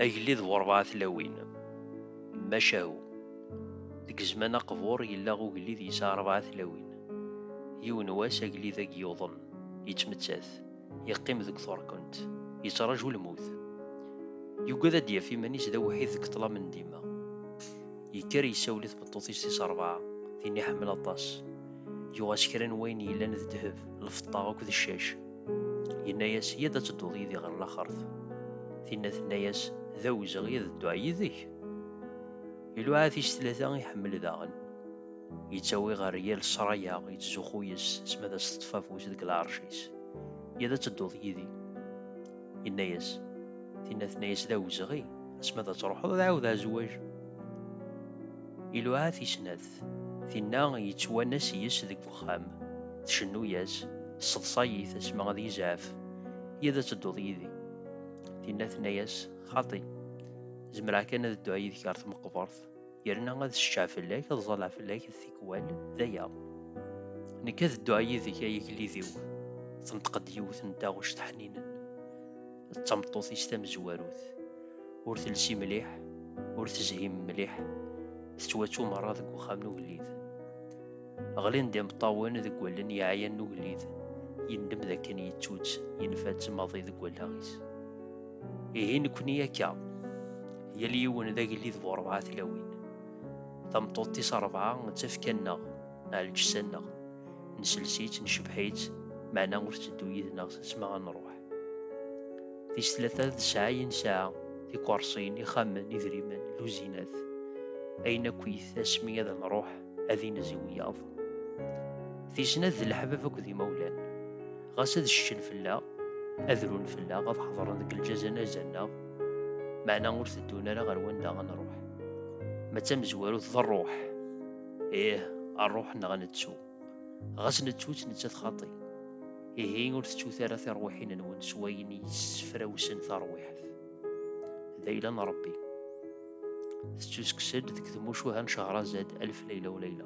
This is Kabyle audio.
Agellid bu rebɛa tlawin, macahu. Deg zzman aqbur yella ugellid yesɛa rebɛa tlawin. Yiwen wass agellid-agi yuḍen, yettmettat, yeqqim deg turkunt, yettraju lmut. Yugad ad d-yaf iman-is d awḥid deg ṭṭlam n dima. Yekker yessawel i tmeṭṭut-is tis rebɛa, tin iḥemmel aṭas. yuɣ-as kra n wayen yellan d ddheb lfeṭṭa akk d ccac yenna-yas yad ad tedduḍ yid-i ɣer laxert tinna tenna-yas d awezɣi ad dduɣ yid-k iluɛa tis tlata iḥemmel daɣen yettawi ɣer yal sraya yettzuxxu yes s ma d as-teṭṭef afus deg lɛerc-is yad ad tedduḍ yid-i yenna-yas tinna tenna-yas d awezɣi asma d ad truḥeḍ ad ɛawdeɣ azwaj iluɛa tis snat tezmert. Tinna yettwanas yes deg uxxam, tcennu-yas, Sseḍṣay-it asmi ad yezɛef, i ad tedduḍ yid-i. Tinna tenna-yas, Xaṭi, zemreɣ kan ad dduɣ yid-k ɣer tmeqbert, yerna ad ccceɣ fell-ak, ad ẓalleɣ fell-ak tikwal, d aya. Nekk ad dduɣ yid-k ay agellid-iw, tenṭeq-d yiwet n taɣect ḥninen. d tameṭṭut-is tamezwarut. Ur telsi mliḥ, ur tezhim mliḥ, tettwattu merra deg uxxam n ugellid. Ɣlin-d imeṭṭawen deg wallen yeɛyan n ugellid, yendem d akken yettu-tt, yenfa-tt maḍi deg wallaɣ-is. Ihi nekkni akka, yal yiwen d agellid bu rebɛa tlawin. Tameṭṭut-is rebɛa d tafekka-nneɣ, ɛelǧessa-nneɣ. Nessels-itt, necbeḥ-itt, meɛna ur tetteddu yid-neɣ s asma ad nruḥ. Tis tlata d sɛa i nesɛa, tikerṣin, ixxamen, idrimen, luzinat. Ayen akkit, asmi ad nruḥ, ad inez i wiyaḍ. Tis snat d leḥbab akked imawlan. Ɣas ad ceččen fell-aɣ, ad run fell-aɣ, ad ḥeḍren deg lǧaz anaz-nneɣ, meɛna ur teddun ara ɣer wanda ad nruḥ. Ma d tamezwarut, d rruḥ. Ih, rruḥ neɣ nettu. ɣas nettu-tt nettat xaṭi ihi ur teččut ara tiṛwiḥin-nwen s wayen yessefrawsen taṛwiḥt d ayla n ṛebbi tettuskes-d deg tmucuha n cehrazad alf layla u layla